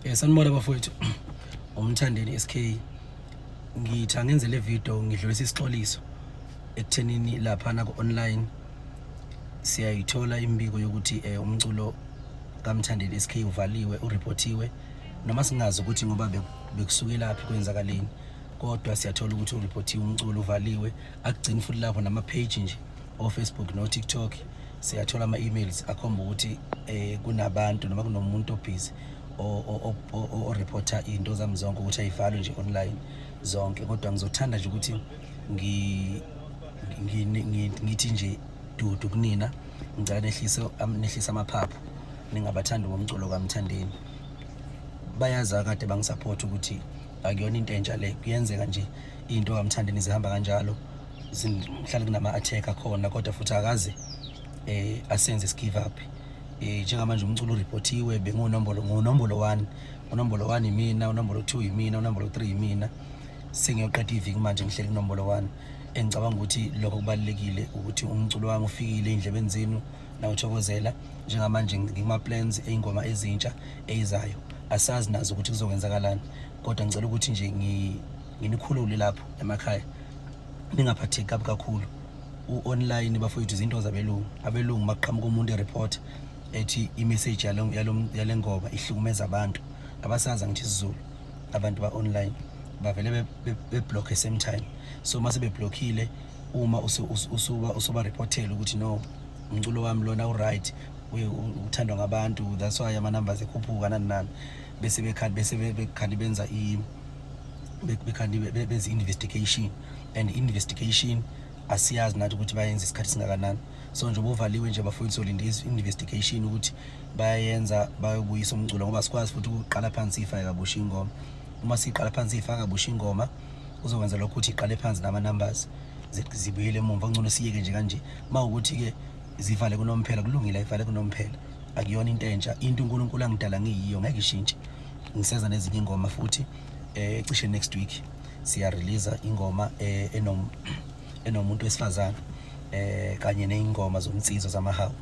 Eh sanibona bafowethu. Umthandeni SK. Ngitha ngenze le video ngidlulisa isixoliso ekuthenini lapha na ku online siyayithola imbiko yokuthi eh umculo kaMthandeni SK uvaliwe ureportiwe noma singazi ukuthi ngoba bekusuke laphi kwenzakaleni kodwa siyathola ukuthi ureportiwe umculo uvaliwe akugcini futhi lapho nama page nje ofacebook notiktok siyathola ama-emails akhomba ukuthi um kunabantu noma kunomuntu obhizi oreporta iy'nto zami zonke ukuthi ayivalwe nje online zonke kodwa ngizothanda nje ukuthi ngithi nje dudu kunina ngicela nehlise nehlise amaphaphu ningabathandi bomculo kamthandeni bayazi akade bangisaphothi ukuthi akuyona into entsha le kuyenzeka nje into kamthandeni zihamba kanjalo mhlawumbe kunama-attack akhona kodwa futhi akaze um asenze sigive up um njengamanje umculo uripotiwe bengunombolo ngunombolo one unombolo one yimina unombolo two yimina unombolo three yimina sengiyoqeda iviki manje ngihleli kunombolo one engicabanga ukuthi lokho kubalulekile ukuthi umculo wami ufikile ey'ndlebeni zenu nawuthokozela njengamanje ngikuma-plans ey'ngoma ezintsha eyizayo asazi nazo ukuthi kuzokwenzakalani kodwa ngicela ukuthi nje nginikhulule lapho emakhaya ningaphatheki kabi kakhulu u-online bafowethu izinto zabelungu abelungu maqhamuka umuntu ereport ethi imessage yale ngoba ihlukumeza abantu abasazi angithi isizulu abantu ba-online bavele beblockhe same time so uma sebeblokhile uma usuba-reportele ukuthi no umculo wami lona uright uthandwa ngabantu that's why ama-numbers ekhuphuka nani nani bese bekhali benza bekhandi benze investigation and investigation asiyazi nathi ukuthi bayenza isikhathi singakanani so nje bovaliwe nje bafuna solinde investigation ukuthi bayenza bayobuyisa umculo ngoba sikwazi futhi ukuqala phansi ifa yakabusha ingoma uma siqala phansi ifa yakabusha ingoma uzokwenza lokho ukuthi iqale phansi nama numbers zibuyele emuva ngcono siyeke nje kanje mawukuthi ke zivale kunomphela kulungile ayivale kunomphela akuyona into entsha into uNkulunkulu angidala ngiyiyo ngeke ishintshe ngiseza nezinye ingoma futhi eh cishe next week siya release ingoma eh, enom enomuntu wesifazana eh kanye neingoma zomnsizwa zamahawu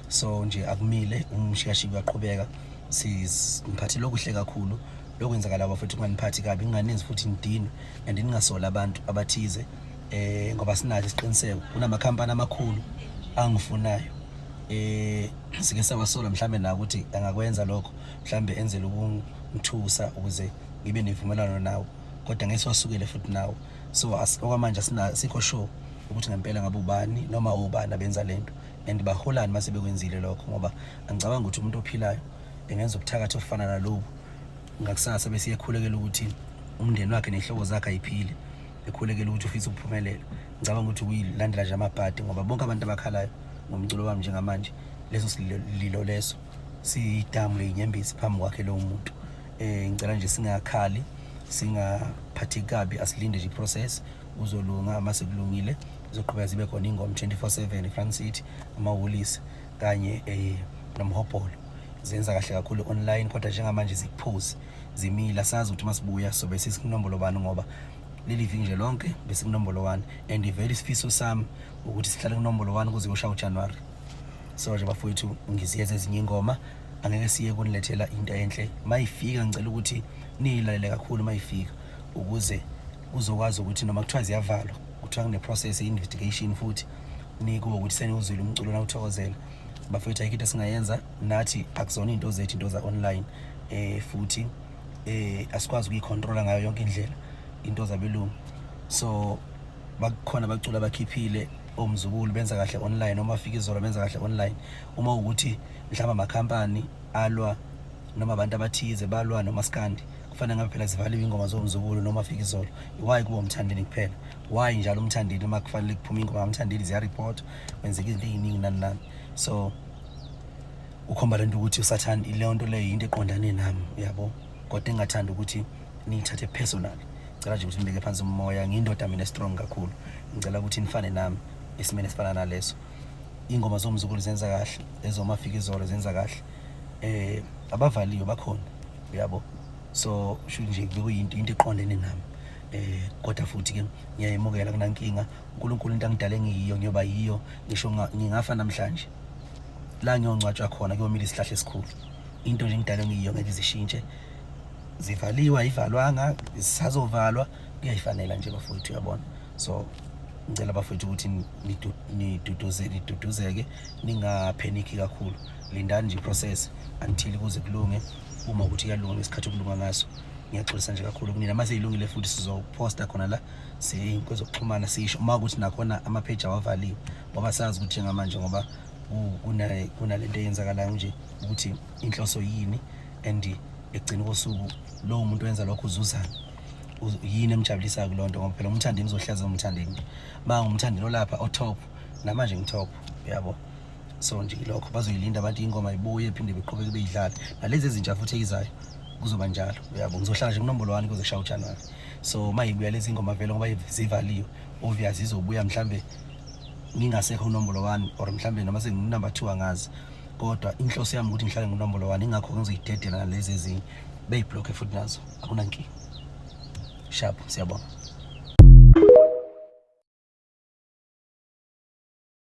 so nje akumile umshiyashi kuyaqhubeka sizimphathile okuhle kakhulu lokwenzakala bafethu kunganiphathi kabi nginganinzi futhi ngidinwe and ningasola abantu abathize eh ngoba sinathi isiqiniseko kunamakhampani amakhulu angifunayo eh sike sawasola mhlambe na ukuthi angakwenza lokho mhlambe enzele ukungithusa ukuze ngibe nevumelwano nawo kodwa ngeke siwasukele futhi nawo so okwamanje sikho sure ukuthi ngempela ngabe ubani noma ubani abenza lento and baholani mase bekwenzile lokho ngoba angicabanga ukuthi umuntu ophilayo engenza ubuthakathi ofana nalobu ngakusasa bese iyekhulekela ukuthi umndeni wakhe nehlobo zakhe ayiphile ekhulekela ukuthi ufisa ukuphumelela ngicabanga ukuthi kuyilandela nje amabhadi ngoba bonke abantu abakhalayo ngomculo wami njengamanje leso sililo leso siyidamu leyinyembezi phambi kwakhe lowo muntu um ngicela nje singakhali singaphathi kabi asilinde nje iprocess uzolunga uma sekulungile zizoqhubeka zibe khona ingoma 24/7 eFront City amahholisi kanye eh nomhobholo zenza kahle kakhulu online kodwa njengamanje zikuphuzi zimila sazi ukuthi masibuya sobe sisinombolo bani ngoba leli viki nje lonke besikunombolo 1 and very sifiso sami ukuthi sihlale kunombolo 1 kuze kushaye uJanuary so nje bafowethu ngiziyeza ezinye ingoma angeke siye kunilethela into enhle mayifika ngicela ukuthi niyilalele kakhulu mayifika ukuze uzokwazi ukuthi noma kuthiwa ziyavalwa kuthiwa kune-process ye-investigation futhi nikuwo ukuthi seniwuzwile umculo nawuthokozela bafethu ayikho into esingayenza nathi akuzona iy'nto zethu into za-online um futhi um asikwazi ukuyikhontrola ngayo yonke indlela into zabelungu so bakhona abacula bakhiphile omzukulu benza kahle online uma fika izolo benza kahle online uma ukuthi mhlawumbe amakhampani alwa noma abantu abathize balwa nomaskandi kufanele ngabe phela zivaliwe ingoma zomzukulu noma fika izolo why kuba umthandeni kuphela why njalo umthandeni uma kufanele kuphume ingoma kamthandeni ziyareport kwenzeka izinto eziningi nani nani so ukhomba lento ukuthi usathanda ileyo nto leyo yinto eqondane nami uyabo kodwa engathanda ukuthi niyithathe personal ngicela nje ukuthi nibeke phansi umoya ngiyindoda mina strong kakhulu ngicela ukuthi nifane nami esimeni esifana naleso ingoma zomzukulu zenza kahle ezomafika izolo zenza kahle eh abavaliyo bakhona uyabo so sho nje kuyinto into eqondene nami eh kodwa futhi ke ngiyayemukela kunankinga uNkulunkulu into angidale ngiyiyo ngiyoba yiyo ngisho ngingafa namhlanje la ngiyongcwatshwa khona kuyomila isihlahla esikhulu into nje ngidala ngiyiyo ngeke izishintshe zivaliwe ayivalwanga zisazovalwa kuyayifanela nje bafowethu uyabona so ngicela bafowethu ukuthi niduduzeke niduduzeke ningapheniki kakhulu lindani nje process until kuze kulunge uma ukuthi kuyalunga ngesikhathi okulunga ngaso ngiyaxolisa nje kakhulu kunina uma seyilungile futhi sizoposta khona la siyey'nkwezo kuxhumana sisho uma ukuthi nakhona amapheji awavaliwe ngoba sazi ukuthi njengamanje ngoba kunale nto eyenzakalayo nje ukuthi inhloso yini and ekugcina kosuku lowo muntu wenza lokho uzuzana yini emjabulisayo kuloo nto ngoba phela umthandeni uzohlaza umthandeni ma ngumthandeni olapha otop namanje ngitop yabo so nje lokho bazoyilinda abantu ingoma ibuye phinde beqhubeke beyidlala nalezi ezintsha futhi eyizayo kuzoba njalo uyabo ngizohlala nje kunombolo wani kuze kushaye ujanuwari so uma yibuya lezi ingoma vele ngoba zivaliwe obvious izobuya mhlambe ngingasekho unombolo wani or mhlambe noma senginumber two angazi kodwa inhloso yami ukuthi ngihlale nginombolo wani ingakho ngizoyidedela nalezi ezinye beyibhlokhe futhi nazo akunankinga sharp siyabonga